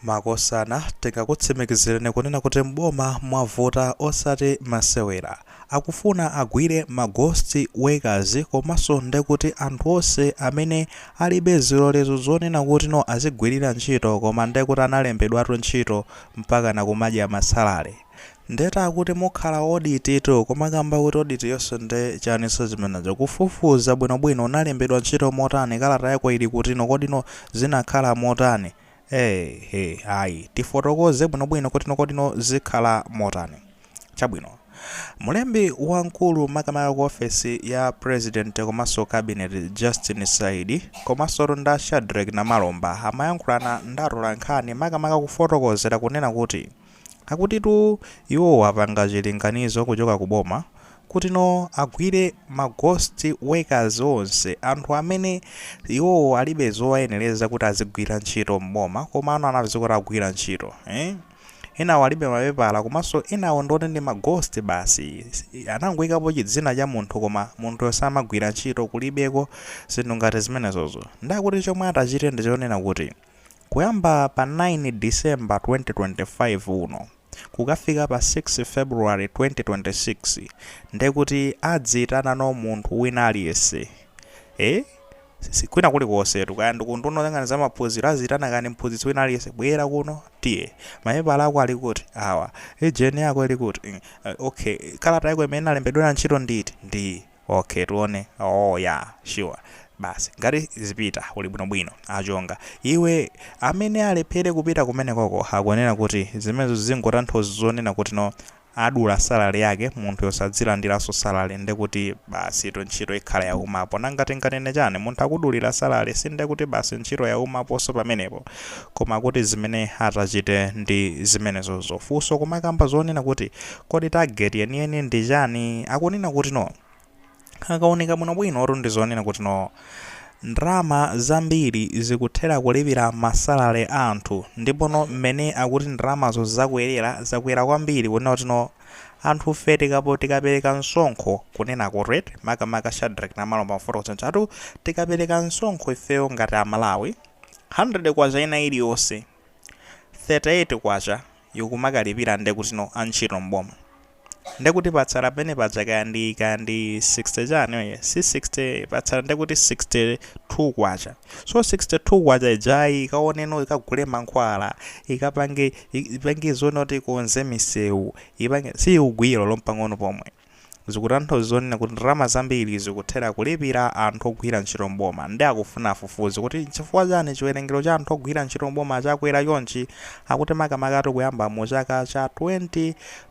Makosana tingakutsimikizireni kunena kuti m'boma mwavuta osati masewera. Akufuna agwire ma ghost workers komanso ndekuti anthu onse amene alibe zilolezo zonena kuti no azigwirira ntchito koma ndekuti analembedwatu ntchito mpakana kumadya ma salary. Ndeta akuti mukhala audit tu komakamba kuti audit yonse nde chani so zimenezo kufufuza bwino bwino unalembedwa ntchito motani kalata yako ili kutino kodino zinakhala motani ee he ayi tifotokoze bwino bwino kutino kodino zikhala motani chabwino Mlembi wamkulu makamaka ku ofesi ya president komanso cabinet Justin Saidi komansotu nda Shadreck Namalomba amayankhulana ndi atolankhani makamaka kufotokozera kunena kuti Akutitu iwowo apanga chilinganizo kuchoka ku boma kuti no agwire ma ghost workers onse, anthu amene iwowo alibe zowayenereza kuti azigwira ntchito m'boma komano anapezeka kuti agwira ntchito eh. Enawo alibe mapepala komanso enawo ndi oti ndi ma ghost basi. Anangoikapo chidzina cha munthu koma munthuyo samagwira ntchito, kulibeko zinthu ngati zimenezozo. Ndiye akuti chomwe atachite ndi chonena kuti. Kuyamba pa 9 December 2025 uno kukafika pa 6 February 2026 ndekuti adziitanano munthu wina aliyense eeh kwina kulikosetu kaya ndi ku unduna oyang'ana zamaphunziro aziitana kani mphunzitsi wina aliyense bwera kuno tiye mapepala ako ali kuti awa ijeni yako ili kuti mm ok kalata yako imene inalembedwera ntchito ndi iti ndi iyi Ok tione Oooh ya sure basi ngati zipita uli bwino bwino achonga iwe amene alephere kupita kumenekoko akunena kuti zimenezo zingotanthauza zonena kuti no adula salary yake munthuyo sadzilandiranso salary ndekuti basitu ntchito ikhala yaumapo nanga tinganene chani munthu akudulira salary sindekuti basi ntchito yaumaponso pamenepo koma kuti zimene atachite ndi zimenezozo funso komakamba zonena kuti Kodi target yeniyeni ndi chani? Akunena kuti no. Akaunika bwinobwino kuti ndi zonena kuti no. Ndalama zambiri zikuthera kulipira ma salary a anthu. Ndipo no mmene akuti ndalamazo zakwelera, zakwera kwambiri kunena kuti no. Anthufe tikapo tikapereka msonkho kunena kuti rate makamaka Shadreck Namalomba amafotokoza nja tu tikapereka msonkho ifeyo ngati a Malawi, K100 ina iliyonse, K38 Ikumakalipira ndekutino antchito m'boma ndekuti patsala penepaja kaya ndi kaya ndi 60 chani oye si 60 patsala ndekuti 62 kwacha so 62 kwacha ijayi ikaoneno ikagule mankhwala ikapange ipange zonena kuti ikonze misewu ipange siikugwira olo mpang'ono pomwe. zikutanthauza zonena kuti ndalama zambiri zikuthera kulipira anthu ogwira ntchito m'boma nde akufuna afufuze kuti nchifukwa chani chiwerengero cha anthu ogwira ntchito m'boma chakwera chonchi akuti makamakatu kuyamba mu chaka cha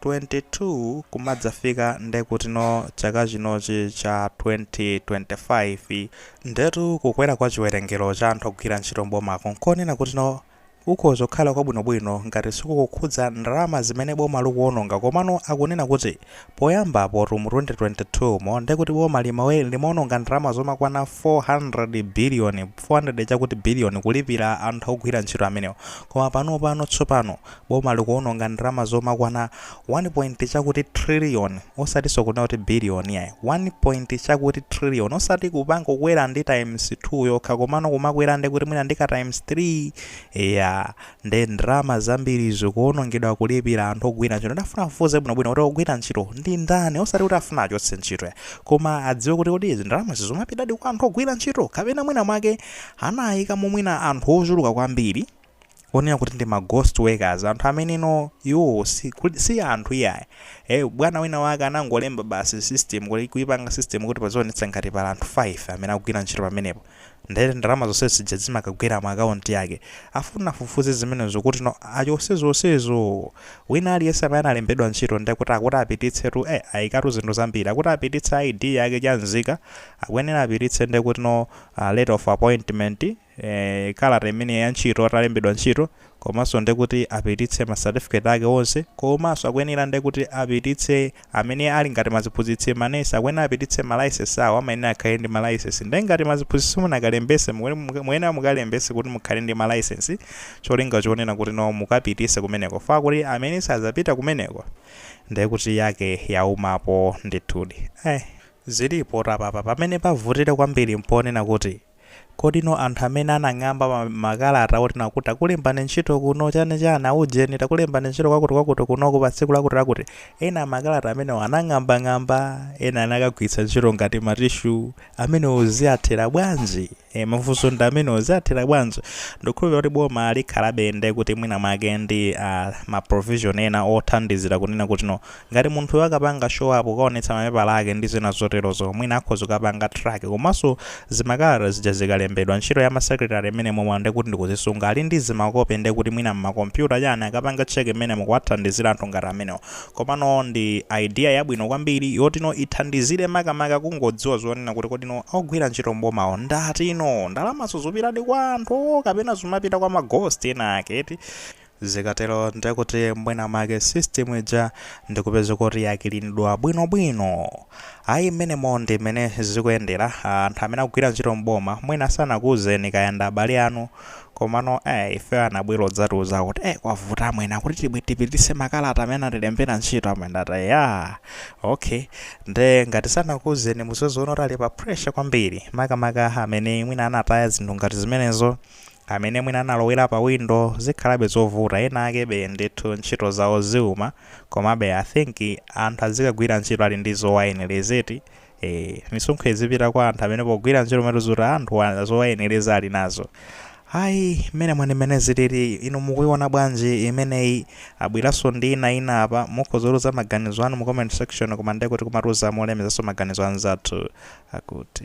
2022 kumadzafika nde kutino chaka chinochi cha 2025 ndetu kukwera kwa chiwerengero cha anthu ogwira ntchito m'bomaku nkonena kutino Kukhoza kukhala kwabwinobwino ngati sikukukhudza ndalama zimene boma likuononga komano akunena kuti poyambapotu mu 2022mo nde kuti boma lima- limaononga ndalama zomakwana 400 biliyoni 400 chakuti biliyoni kulipira anthu ogwira ntchito amenewa koma panopano tsopano boma likuononga ndalama zomakwana Wani pointi chakuti triliyoni, osatinso kunena kuti biliyoni iyayi, wani pointi chakuti triliyoni, osati kungokwera ndi taimsi thuu yokha komano kumakwera nde kuti mwina ndi ka taimsi thrii, eya, nde ndrama zambiri zikuonongedwa kulipira anthu ogwira ntchito nde afuna afufuze bwino bwino kuti ogwira ntchito ndi ndani osati kuti afuna achotse ntchito yayi koma adziwe kuti kodi izi ndalamazi zumapitadi kwa anthu ogwira ntchito kapena mwina mwake anaikamo mwina anthu ochuluka kwambiri onena kuti ndi ma ghost workers anthu amene no iwowo si, kuli- si anthu iyayi eh, bwana wina wake anangolemba basi system kuti kuipanga system kuti pazionetsa ngati pali anthu 5 amene akugwira ntchito pamenepo nde ndalama zonse zija zimakagwera mu akaunti yake afuna afufuze zimenezo kuti no achose zonsezo wina aliyense amene analembedwa ntchito ndiye kuti akuti apititse tu eh, ayikatu zinthu zambiri akuti apititse id yake cha nzika akuyenera apititse ndiye kuti no uh, letter of appointment eh, kalata imene ya ntchito atalembedwa ntchito komanso nde kuti apititse ma certificate ake onse komanso akuyenera nde kuti apititse amene ali ngati maziphunzitsi manesi akuyenera apititse ma license awo amayenera akhale ndi ma license nde ngati maziphunzitsi musanakalembese mukuyenera mukuyenera mukalembese kuti mukhale ndi ma license cholinga chonena kuti no mukapitise kumeneko fa kuti amene sazapita kumeneko nde kuti yake yaumapo ndithudi eh zilipo tapapa pamene pavutire kwambiri mponena kuti Kodino anthu amene anang'amba makalata otino akuti takulembani ntchito kuno chani chani aujeni takulembani ntchito kwakuti kwakuti kunoko pa tsiku lakuti lakuti ena makalata amenewo anang'ambang'amba ena anakagwiritsa ntchito ngati matishu amenewo ziyathera bwanji e, mafunso ndi amenewo ziyathera bwanji ndikukhulupirira kuti boma likhalabe nde kuti mwina mwake ndi ah, ma provision ena othandizira kunena kuti no Ngati munthuyo akapanga show up kukaonetsa mapepala ake ndi zina zoterozo, mwina akhoza kukapanga track. Komanso zimakalata zija zikalembedwa, ntchito ya ma secretary imeneyo ndekuti ndi kuzisunga. Ali ndi zimakope ndekuti mwina mma computer chani akapange check mmenemo kuwathandizira anthu ngati amenewo. Komano ndi idea yabwino kwambiri yotino ithandizire makamaka kungodziwa zonena kuti kodino ogwira ntchito mbomawo ndi atino? Ndalamazo zupitadi kwa anthu kapena zumapita kwa ma ghost ena ake eti? Zikatero ndiye kuti mwina mwake system ija ndikupeza kuti yakilinidwa bwino bwino. Ayi mmenemo ndi mmene zikuyendera. Ah, anthu amene akugwira ntchito m'boma mwina sanakuuzeni kaya ndi abale anu. Komano eh, ifeyo anabwera odzatiuza kuti eh, kwavuta amwene akuti tipititse makalata amene anatilembera ntchito amwene ndataya. Okay. Nde ngati sanakuuzeni muzingoona kuti ali pa pressure kwambiri. Makamaka amene mwina anataya zinthu ngati zimenezo. Amene mwina analowera pa window zikhalabe zovuta, enaakebe ndithu ntchito zawo ziuma komabe I think anthu adzikagwira ntchito ali ndi zowayenereza eti ee misonkho idzipita kwa anthu amene pogwira ntchito atiuza kuti anthuwa zowayenereza ali nazo ayi mmenemo ndi mmene zilili inu mukuiona bwanji imeneyi abweranso ndi ina ina apa mukhoza kutiuza maganizo anu mu comment section koma ndekuti kumatiuza molemezanso maganizo anzathu akuti